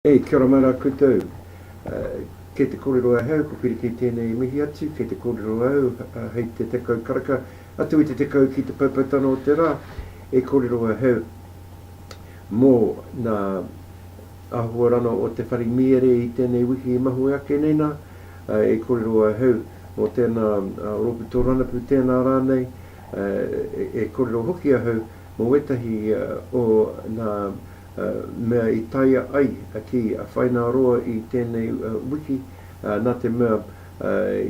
Hey, kia ora mai rā koutou. Uh, kei te kōrero ahau, ko Pirikī tēnei e mihi atu, kei te kōrero au uh, hei te tekau karaka, atu i te tekau ki te poupoutanga o te rā, e kōrero ahau mō nā Ahakoa rano o Te Whare Mīere i tēnei wiki i mahue ake nei nā, e kōrero ahau mō tēnā rōpū tōranapu, tēnā rānei, e kōrero hoki ahau mō wētahi o nā mea i taea ai ki a Whaināroa i tēnei wiki, nā te mea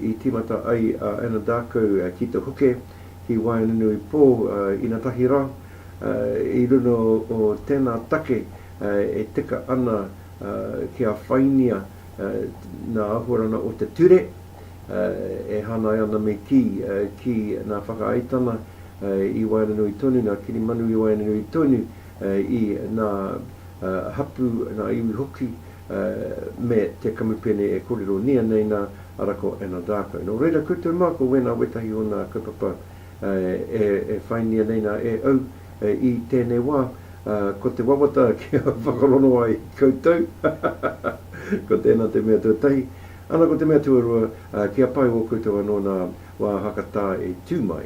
i tīmata ai a Anadarko ki Te Huke, ki Waenganui Pō, inatahi rā, i runga o tēnā take e tika ana kia whaingia nā ahuarana o te ture e hānai ana me kī, ki nā whakaaetana i waenganui tonu, nā kirimanu i waenganui tonu i nā hapū, nā iwi hoki me te kamupene e kōrero nia nei nā, arā ko Anadarko. Nō reira, koutou mā ko wēnā wētahi o nā kaupapa e whāingia nei nā e au i tēnei wā, ko te wawata kia whakarongo ai koutou, ko tēnā te mea tuatahi, ana ko te mea tuarua, kia pai ō koutou anō nā wā hakatā e tū mai.